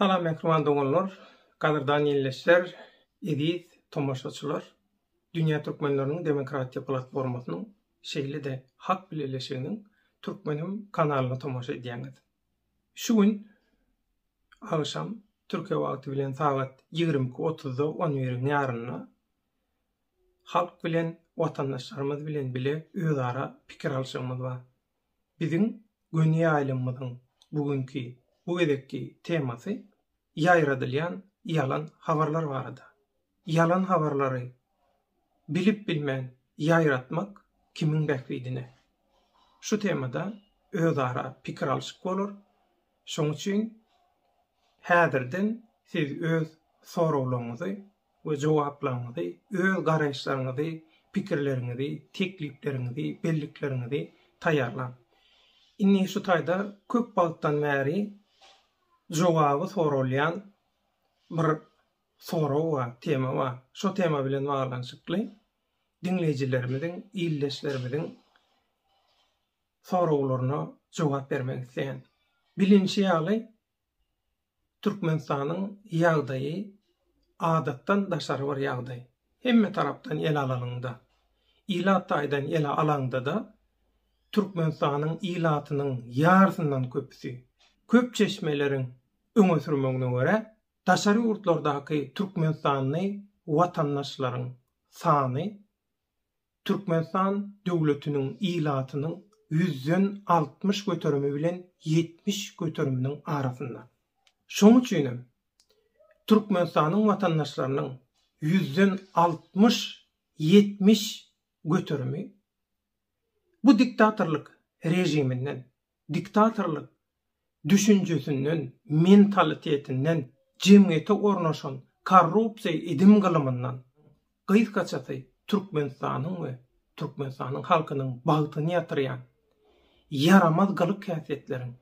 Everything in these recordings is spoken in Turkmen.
Salam mähriban doganlar, gadyrdan ýilleşler, eziz tomaşaçylar! Dünýä Türkmenleriniň Demokratiýa Platformasynyň şeýle-de Hak Bileleşiginiň Türkmenim kanalyna tomaşa edýäňiz. Şu gün agşam Türkiýe wagty bilen sagat ýigrimi iki otuzda on biriň ýarynda halk bilen, watandaşlarymyz bilen bile özara pikir alşygymyz bar. Biziň göni ýaýlymymyzyň bu günki, bu gezekki temasy ýaýradylýan ýalan habarlar barada. Ýalan habarlary bilip-bilmän ýaýratmak kimiň bähbidine? Şu temada özara pikir alyşyp bolar. Şoň üçin häzirden siz öz soraglaryňyzy we jogaplaryňyzy, öz garaýyşlaryňyzy, pikirleriňizi, teklipleriňizi, bellikleriňizi taýýarlaň. Indi şu taýda köp wagtdan bäri jogaby soralýan bir sorag bar, tema bar. Şo tema bilen baglanyşykly diňleýjilerimiziň, ildeşlerimiziň soraglaryna jogap bermek isleýän. Bilinişi ýaly, Türkmenistanyň ýagdaýy adatdan daşary bir ýagdaý. Hemme tarapdan ele alanyňda, ilat taýdan ele alaňda-da Türkmenistanyň ilatynyň ýarysyndan köpüsi, köp çeşmeleriň öňe sürmegine görä, daşary ýurtlardaky türkmenistanly watandaşlaryň sany Türkmenistan döwletiniň ilatynyň ýüzden altmyş göterimi bilen ýetmiş göteriminiň arasynda. Şonuň üçin hem, Türkmenistanyň watandaşlarynyň ýüzden altmyş, ýetmiş göterimi bu diktatorlyk režiminden diktatorlyk düşünjesinden, mentalitetinden, jemgyýete ornaşan korrupsiýa edim-gylymyndan gysgaçasy Türkmenistanyň we Türkmenistanyň halkynyň bagtyny ýatyrýan ýaramaz gylyk-häsiýetleriň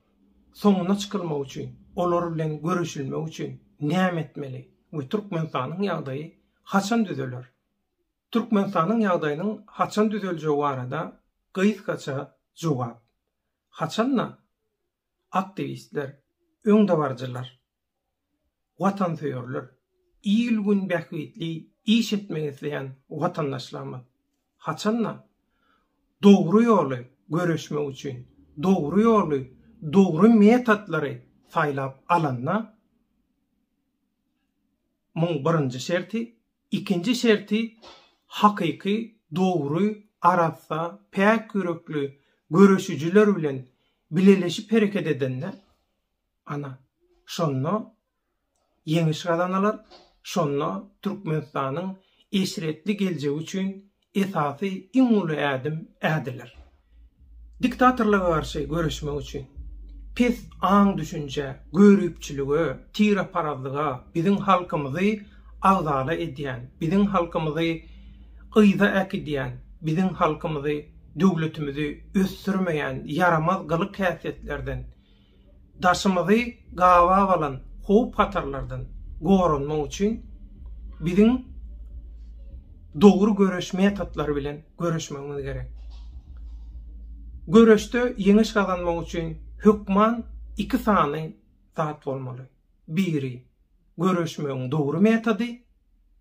soňuna çykylmagy üçin, olar bilen göreşilmegi üçin näme etmeli we Türkmenistanyň ýagdaýy haçan düzeler? Türkmenistanyň ýagdaýynyň haçan düzeljegi barada gysgaça jogap. Haçan-da, aktiwistler, öňdebaryjylar, watansöýerler, il-gün bähbitli iş etmek isleýän watandaşlarymyz, haçan-da, dogry ýoly göreşmek üçin, dogry ýoly, dogry metodlary saýlap alanda, muň birinji şerti Ikinji şerti hakyky, dogry, arassa, päk ýürekli göreşijiler bilen bileleşip hereket edende, ana, şonda ýeňiş gazanalar, şonda Türkmenistanyň eşretli geljegi üçin Esasy iň uly ädim ädiler. Diktatorlyga garşy göreşmek üçin, pes aň-düşünjä, göripçilige, tireparazlyga, biziň halkymyzy agzala edýän, biziň halkymyzy yza äkidýän, biziň halkymyzy, döwletimizi ösdürmeýän ýaramaz gylyk-häsiýetlerden, daşymyzy gabap alan howp-hatarlardan goranmak üçin biziň dogry göreş metodlary bilen göreşmegimiz gerek. Göreşde ýeňiş gazanmak üçin hökman iki sany zat bolmaly. Biri, göreşmegiň dogry metody,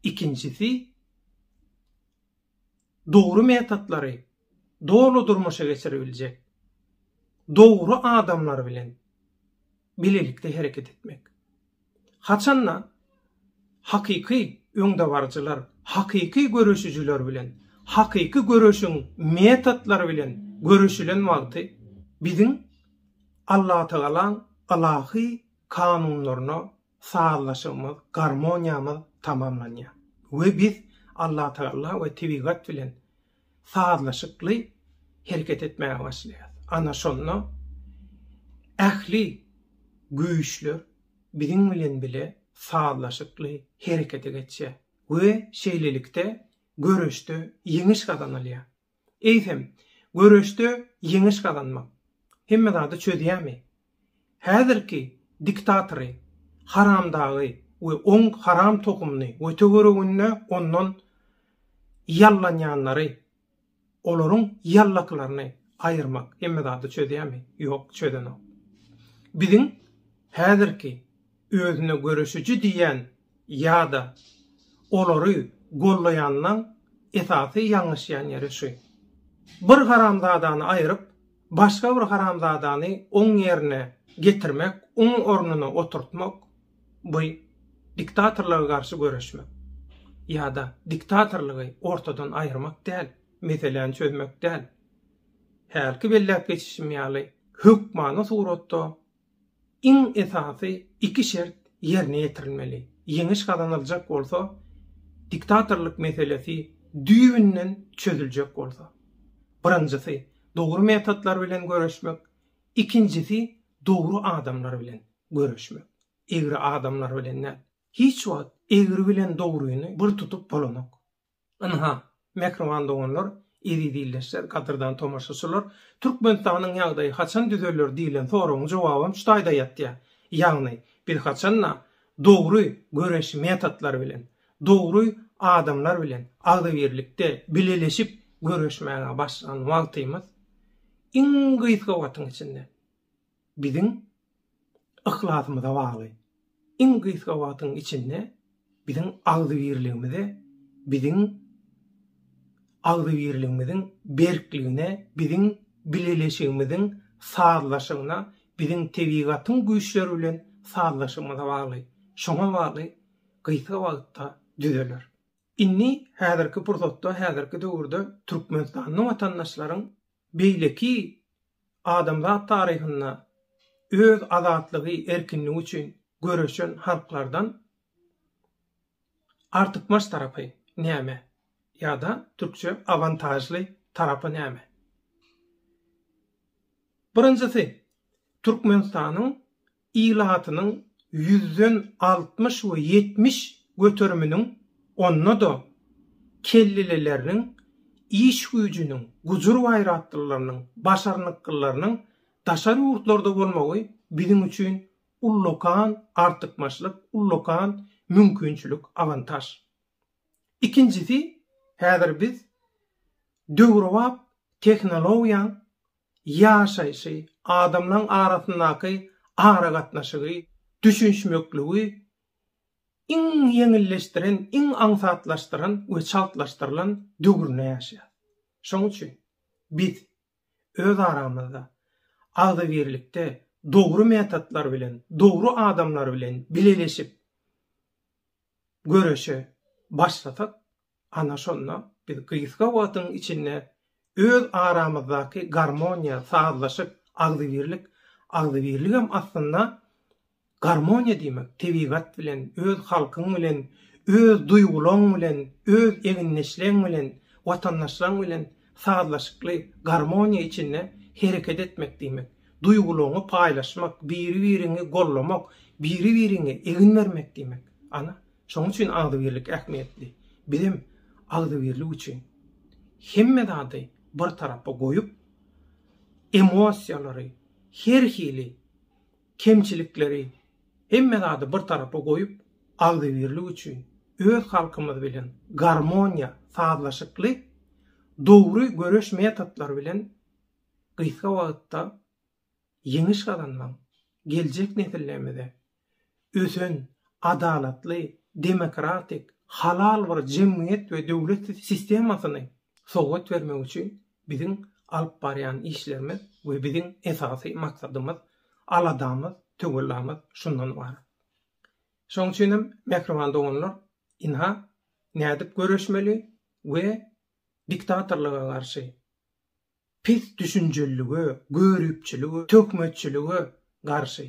ikinjisi, dogry metodlary doly durmuşa geçiribiljek dogry adamlar bilen bilelikde hereket etmek. Haçan-da hakyky öňdebaryjylar, hakyky göreşijiler bilen, hakyky göreşiň metodlary bilen göreşilen wagty biziň Allatagalaň ylahy kanunlaryna sazlaşygymyz, garmoniýamyz tamamlanýar we biz Allatagala we tebigat bilen sazlaşykly hereket etmäge başlaýarys. Ana şonda ähli güýçler biziň bilen bile sazlaşykly herekete geçýär we şeýlelikde göreşde ýeňiş gazanylýar. Eýsem, göreşde ýeňiş gazanmak hemme zady çözýärmi? Häzirki diktatory, haramdagy we oň haram tohumyny we töwereginde ondan ýallanýanlary, olaryň ýallaklaryny aýyrmak hemme zady çözýärmi? Ýok, çözenok. Biziň häzirki özüne göreşiji diýýän ýa-da olary gollaýanynyň esasy ýalňyşýan ýeri şu. Bir haramzadany aýryp, başga bir haramzadany oň ýerine getirmek, oň ornuna oturtmak, bu diktatorlyga garşy göreşmek ýa-da diktatorlygy ortadan aýyrmak däl, meseläni çözmek däl. Hälki belläp geçişim ýaly, hökmany suratda Iň esasy iki şert ýerine ýetirilmeli. Ýeňiş gazanyljak bolsa, diktatorlyk meselesi düýbünden çözüljek bolsa. Birinjisi, dogry metodlar bilen göreşmek, ikinjisi, dogry adamlar bilen göreşmek. Egri adamlar bilen däl. Hiç wagt egri bilen dogryny bir tutup bolanok. Ynha, mähriban doganlar, eziz ildeşler, gadyrdan tomaşaçylar, Türkmenistanyň ýagdaýy haçan düzeler diýlen soragyň jogabam şu taýda ýatýar. Ýagny, biz haçan-da dogry göreş metodlary bilen, dogry adamlar bilen agzybirlikde, bileleşip göreşmäge başlan wagtymyz, iň gysga wagtyň içinde, biziň yhlasymyza bagly. Iň gysga wagtyň içinde biziň agzybirligimize, biziň agzybirligimiziň berkligine, biziň bileleşigimiziň sazlaşygyna, biziň tebigatyň güýçleri bilen sazlaşygymyza bagly. Şoňa bagly gysga wagtda düzeler. Indi häzirki pursatda, häzirki döwürde Türkmenistanda watandaşlaryň beýleki adamzat taryhynda öz azatlygy, erkinligi üçin göreşen halklardan artykmaç tarapy näme? Ýa-da türkçe awantažly tarapy näme? Birinjisi, Türkmenistanyň ilatynyň ýüzden altmyş we ýetmiş göteriminiň, onda-da kellelileriniň, iş güýjüniň, gujur-gaýratlylarynyň, başarnyklylarynyň daşary ýurtlarda bolmagy biziň üçin ullakan artykmaçlyk, ullakan mümkinçilik, awantaž. Ikinjisi, häzir biz döwrebap tehnologiýaň ýaşaýşy, adamlaryň arasyndaky aragatnaşygy, düşünişmekligi iň ýeňilleşdiren, iň aňsatlaşdyran we çaltlaşdyrylan döwründe ýaşaýarys. Şonuň üçin biz öz aramyzda agzybirlikde dogry metodlar bilen, dogry adamlar bilen bileleşip, göreşe başlasak, ana şonda biz gysga wagtyň içinde öz aramyzdaky garmoniýa, sazlaşyk, agzybirlik, agzybirligem aslynda garmoniýa diýmek, tebigat bilen, öz halkyň bilen, öz duýgulaň bilen, öz egindeşleň bilen, watandaşlaň bilen Sazlaşykly garmoniýa içinde hereket etmek diýmek, duýgularyňy paýlaşmak, biri-biriňi gollamak, biri-biriňe egin bermek diýmek. Ana, şonuň üçin agzybirlik ähmiýetli. Bizem agzybirlik üçin hemme zady bir tarapa goýup, emosiýalary, her hili kemçilikleri, hemme zady bir tarapa goýup, agzybirlik üçin, öz halkymyz bilen garmoniýa, sazlaşykly, dogry göreş metodlary bilen gysga wagtda ýeňiş gazanmagyň, geljek nesillerimize ösen, adalatly, demokratik, halal bir jemgyýet we döwlet sistemasyny sowgat bermek üçin Biziň alyp barýan işlerimiz we biziň esasy maksadymyz, aladamyz, töwellamyz şundan ybarat. Şoň üçin hem, mähriban doganlar, ynha, nädip göreşmeli we diktatorlyga garşy, pis düşünjelilige, göripçilige, töhmetçilige garşy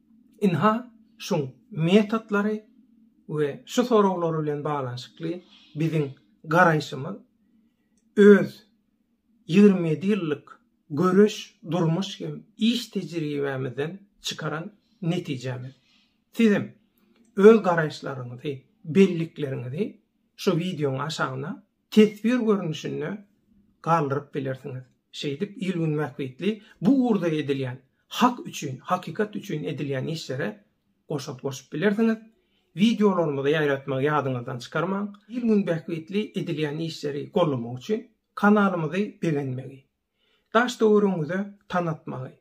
Ynha, şuň metodlary we şu soraglar bilen baglanyşykly biziň garaýşymyz öz ýigrimi ýedi ýyllyk göreş, durmuş hem iş tejribämizden çykaran netijämiz. Siz hem öz garaýyşlaryňyzy, bellikleriňizi şu wideoň aşagyna teswir görnüşinde galdyryp bilersiňiz. Şeýdip, il-gün bähbitli bu ugurda edilýän, hak üçin, hakykat üçin edilýän işlere goşant goşup bilersiňiz. Wideolarymyzy ýaýratmagy ýadyňyzdan çykarmaň. Il-gün bähbitli edilýän işleri gollamak üçin kanalymyzy begenmegi, daş-töweregiňize tanatmagy,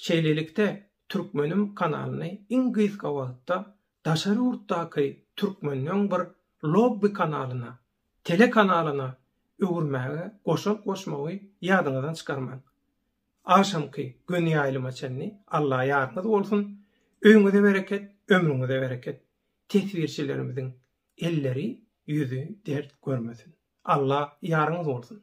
Şeýlelikde, Türkmenim kanalyny iň gysga wagtda daşary ýurtdaky türkmenden bir lobby kanalyna, telekanalyna öwürmäge goşant goşmagy ýadyňyzdan çykarmaň. Agşamky göni ýaýlyma çenli Alla ýaryňyz bolsun, öýüňize bereket, ömrüňize bereket. Teswirçilerimiziň elleri, ýüzi dert görmesin. Alla ýaryňyz bolsun.